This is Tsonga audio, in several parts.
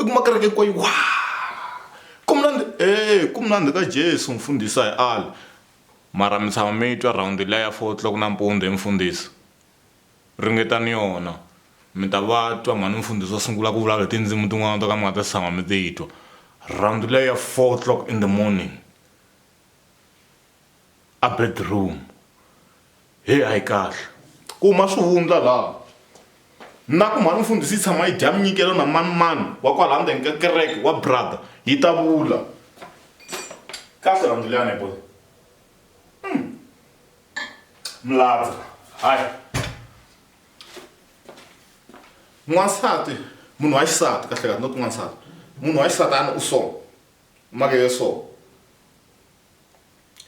i kuma kereke hinkwayo wa ku mnandi e ku mnandi ka jesu mfundhisi a hi ali mara mi tshama mi twa rhawundi liya ya four o'clock nampundzu hi mfundhisi ringetani yona mi ta va twa mhani mfundhisi wa sungula ku vulavula hi tindzimu tin'wana to ka mi nga ta si tshama mi ti twa rhawundi liya ya four o'clock in the morning. a bedroom heyi a yi kahle ku huma swivundla laha na ku mhani mfundhisi yi tshama yi dya minyikelo na manimani wa kwala ndzeni ka kereke wa brother yi ta vula kahle rhandzu liyani boy hmm. mladza hayi n'wansati munhu wa xisati kahle kahle not n'wansati munhu wa xisati a ni u so make yo so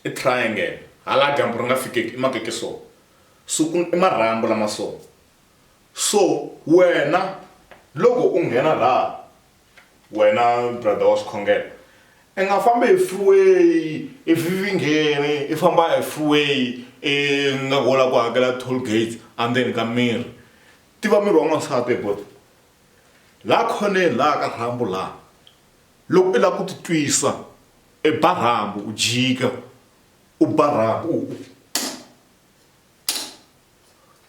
i triangle hala dyambu ri nga fikeki i makeke so so ku i marhambu lama so so wena loko u nghena laha wena brother wa swikhongelo i nga fambi hi freeway i vivingeni i famba hi freeway i nga hola ku hakela toll gates andzeni ka miri tiva miri wa n'wansati bot laha khoneni laha ka rhambu laha Loko i lava ku ti twisa e ba rhambu u jika u ba rhambu u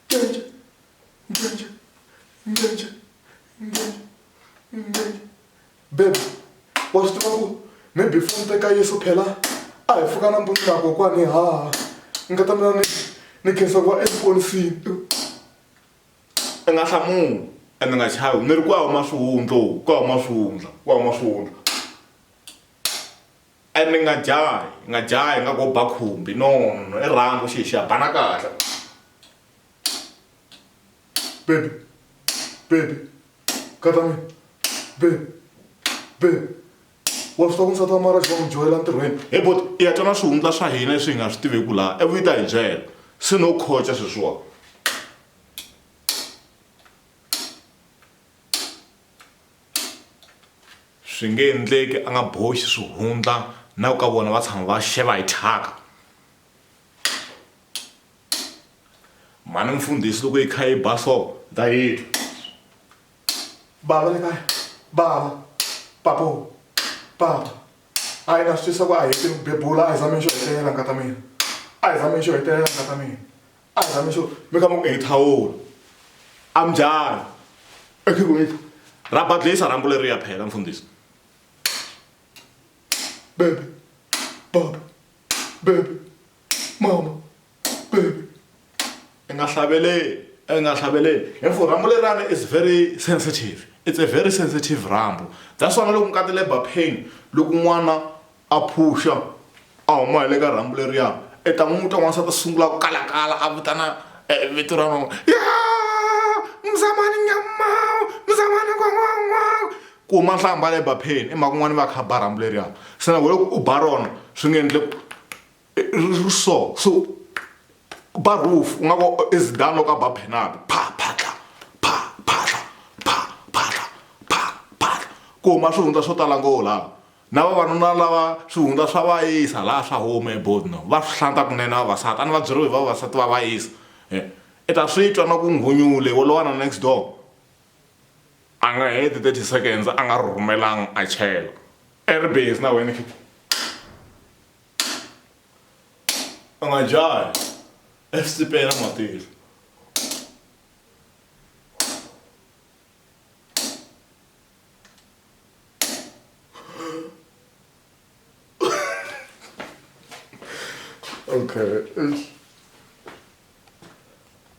ncenca ncenca ncenca ncenca ncenca bebe wa swi tiva ku maybe foni teka yeso phela a hi pfuka nampundzu na kokwani ha nga ta mina ni ni khensa ku va exiponisini i nga hlamuli ene nga chavi ni ri ku ya huma swihundla ku ya huma swihundla ku ya huma swihundla ene nga jahi nga jahi nga ko ba khumbi no no i rhangu xi xa bana kahle baby baby khatami baby baby wa swi tiva ku nsati wa mara xi va n'wi dyohela ntirhweni he bot i ya twana swihundla swa hina leswi hi nga swi tiveku laha ivi yi ta hi byela se no khoca sweswiwani swi nge endleki a nga boxi swihundla na ku ka vona va tshama va xeva hi thyaka mhani mfundhisi loko yi kha yi ba so ta yitwa bava le kaya bava papo papa a yi na swi twisa ku a hi tiri ku bebula a hi zameni xo hetelela nga ta mina a hi zameni xo hetelela nga ta mina a hi zameni xo mi ka mi ku hi thawula a mi njhani ekhikwini ra badlisa rhambu leri ya phela mfundhisi bebe baba bebe mama baby i nga hlaveleli i nga hlaveleli hi for rambo lerana is very sensitive it's a very sensitive rambo that's why loko ngati labor pain loko n'wana a phusha a huma hi le ka rambo leriya i ta n'wi twa n'wansati a sungula ku kalakala a vitana eh, vito ra nona ya mzamani nyamau mzamani kwan'wan'wau Kuma nhlamba leyi ba pheni i mhaka un'wana va kha ba rhambu leriya se na loko u ba rona swi nge endle ri so so ba roof u nga vo i Zidane loko a ba penalt pha phatla pha phatla pha phatla pha phatla kuma swihundla swo tala ngo la na vavanuna lava swihundla swa va yisa laha swa huma ebodno va swi hlanta kunene vavasati a ni va byeriwe hi vavasati va va yisa i ta swi twa na ku nghunyule wo lowa na next door. A nga heti 30 seconds a nga ri rhumelanga a chela. I ri busy na wena kit. U nga jahi exisipeni a ma tili. Okay.